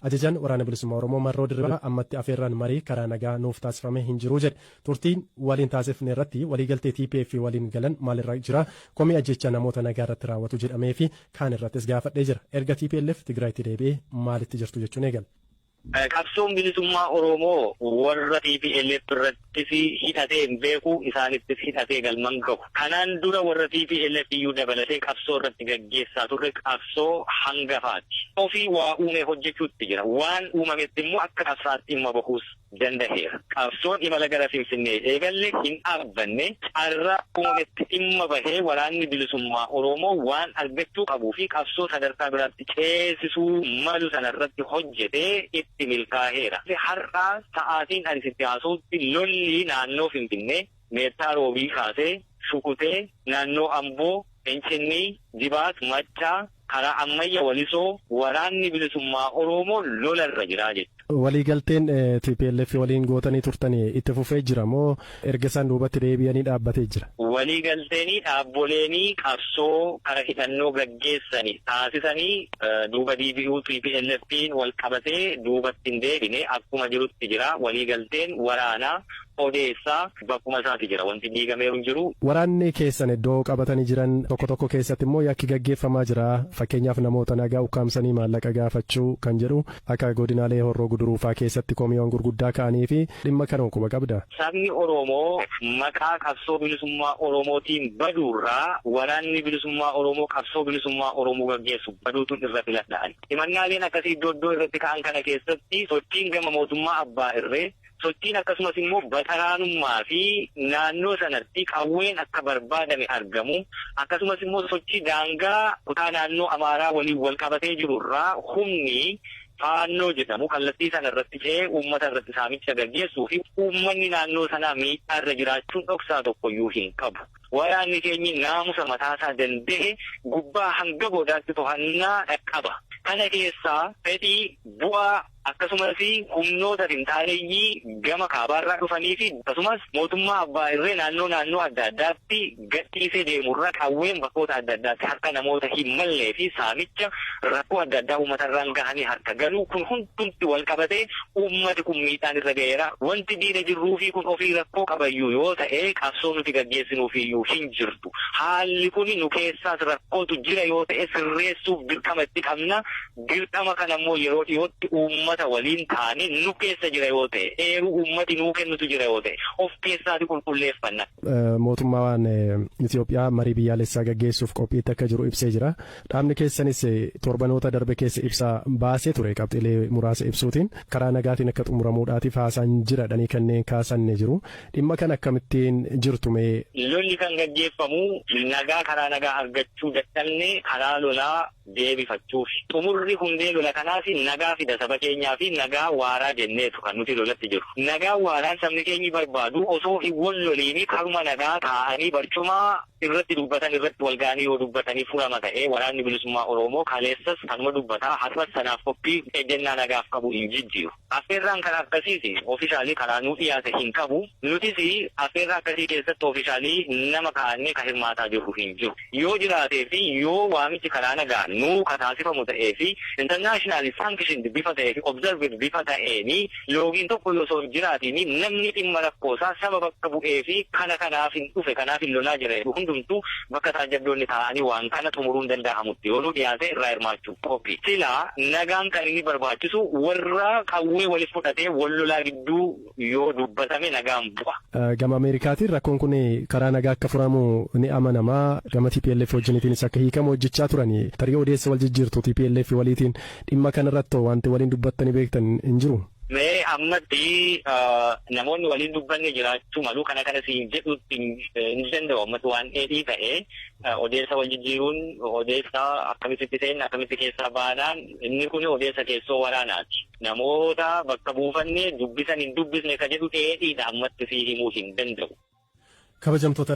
Ajajaan Waraana Bilisummaa Oromoo Marroo Dirribaa ammatti afeerraan marii karaa nagaa nuuf taasifame hin jiru jedhe. Turtii waliin taasifne irratti waliigaltee tplf waliin galan maal irra jira? Komii ajjeechaa namoota nagaa irratti raawwatu jedhamee fi kaan irrattis gaafadhee jira. Erga tplf Tigraayitti deebi'ee maalitti jirtu jechuun eegale. Qabsoon Bilisummaa Oromoo warra tplf irratti. tti hidhatee hin beeku, isaanittis hidhatee galma hin gahu. Kanaan dura warra tplf iyyuu dabalatee qabsoo irratti gaggeessaa turre qabsoo hangafaati. Ofii waa uumee hojjechuutti jira. Waan uumametti immoo akka qabsaa'aatti dhimma bahuus dandaheera. Qabsoon imala gara Finfinnee eegalle hin dhaabbanne, carraa uumametti dhimma bahee Waraanni Bilisummaa Oromoo waan argachuu qabuu fi qabsoo sadarkaa biraatti ceesisuu malu sana irratti hojjete itti milkaaheera. Har'a sa'aatiin ani sitti haasa'utti lolli naannoo Finfinnee Meettaa Roobii kaasee Shukutee, naannoo Amboo, Fincinnii, Dibaat, Maccaa, karaa Ammayya, Walisoo waraanni bilisummaa Oroomoo lola irra jira jechuudha. Waliigalteen tplf waliin gootanii turtani itti fufee jira moo erga isaan duubatti deebi'anii dhaabbatee jira? Waliigalteenii dhaabboleenii qabsoo kara hidhannoo gaggeessani taasisani duuba diibi'uu TPLFn wal qabatee duubatti hin deebine akkuma jirutti jira. Waliigalteen waraana odeessa. Bakkuma isaati jira. Wanti diigameeru hin jiru. Waraanni keessan iddoo qabatanii jiran tokko tokko keessatti immoo yakki gaggeeffamaa jira. Fakkeenyaaf namoota nagaa ukkaamsanii maallaqa gaafachuu kan jedhu akka godinaalee Horroo Guduruu faa keessatti komiiwwan gurguddaa ka'anii fi dhimma kanoo quba qabda? Sabni Oromoo maqaa qabsoo bilisummaa Oromootiin baduurraa waraanni bilisummaa Oromoo qabsoo bilisummaa Oromoo gaggeessu baduutu irra filadha ani. Himannaaleen akkasii iddoo iddoo irratti ka'an kana keessatti sochiin gama mootummaa abbaa irree Sochiin akkasumas immoo baxaraanummaa fi naannoo sanatti qawween akka barbaadame argamu akkasumas immoo sochii daangaa kutaa naannoo Amaaraa waliin wal qabatee jiru irraa humni Faannoo jedhamu kallattii sana irratti ce'ee uummata irratti saamicha gaggeessuu fi uummanni naannoo sanaa miidhaa irra jiraachuun dhoksaa tokko iyyuu hin qabu. Waraanni keenyi naamusa mataa isaa danda'e gubbaa hanga godaatti tohannaa qaba. Kana keessaa fedhii, bu'aa, akkasumas humnoota finxaaleyyii gama kaabaarraa dhufaniifi akkasumas mootummaa abbaa irree naannoo naannoo adda addaatti gadhiisee deemurra qawween bakkoota adda addaatti harka namoota hin malleefi saamicha rakkoo adda addaa uummatarraan gahanii harka galuu kun hundumti wal qabatee uummati kun miidhaan irra gaheera wanti diina jirruufi kun ofii rakkoo qabayyuu yoo ta'e qabsoo nuti gaggeessinuufiyyuu hin jirtu haalli kun nu keessaas rakkootu jira yoo ta'e sirreessuuf dirqama itti qabna Dirqama kana immoo yeroo dhiyootti uummata waliin taane nu keessa jira yoo ta'e, eeruu uummati nuu kennutu jira yoo ta'e of keessaati qulqulleeffanna. Mootummaan Itiyoophiyaa marii biyyaalessaa gaggeessuuf qophiitti akka jiru ibsee jira. Dhaabni keessanis torbanoota darbe keessa ibsa baasee ture qabxiilee muraasa ibsuutiin karaa nagaatiin akka xumuramuudhaatiif haasaan jira jedhanii kanneen kaasan ni jiru. Dhimma kana akkamittiin jirtu mee? Lolli kan gaggeeffamu nagaa karaa nagaa argachuu dadhabne karaa lolaa deebifachuufi. Xumurri hundee lola kanaas nagaa fida saba keenyaafi nagaa waaraa jenneetu kan nuti lolatti jirru. Nagaa waaraan sabni keenyi barbaadu osoo hin wal loliini karuma nagaa taa'anii barcuma irratti dubbatan irratti wal ga'anii yoo dubbatanii furama ta'ee Waraanni Bilisummaa Oroomoo kaleessas kanuma dubbata har'as sanaaf qophii ejjennaa nagaaf qabu hin jijjiiru. Affeerraan kan akkasiis officially karaa nuu dhiyaate hin qabu. Nutis affeerraa akkasii keessatti officially nama kaa'annee kan hirmaataa jirru hin jiru. Yoo jiraatee fi yoo waamichi karaa nagaan nuu ka taasifamu ta'ee fi internationally sanctioned bifa ta'ee fi observed bifa ta'een loogiin tokko osoo hin jiraatiin namni dhimma rakkoo isaa saba bakka bu'ee fi kana kanaafin dhufe kanaafin lolaa jira jedhu hundumtuu bakka taajjabdoonni taa'anii waan kana xumuruun danda'amutti yoo nuu dhiyaate irraa hirmaachuu Qophii. Silaa nagaan kan inni barbaachisu warra qawwee walitti fudhatee wal lolaa gidduu yoo dubbatame nagaan bu'a. Gama Ameerikaatiin rakkoon kun karaa nagaa akka furamu ni amanama. Gama tplf wajjiniitiinis akka hiikamu hojjechaa turani. Tarii odeessa wal jijjiirtu tplf waliitiin dhimma kanarratti hoo wanti waliin dubbattanii beektan hin jiru? Mee ammatti namoonni waliin dubbanne jiraachuu malu. Kana kana siin jedhuutti hin danda'u ammatti waan dheedhii ta'e. Odeessa wal jijjiiruun odeessa akkamitti seenna akkamitti keessaa baana inni kun odeessa keessoo waraanaati. Namoota bakka buufanne dubbisan hin dubbisne ka jedhu dheedhiidha ammatti sii himuu hin danda'u. Kabajamtoota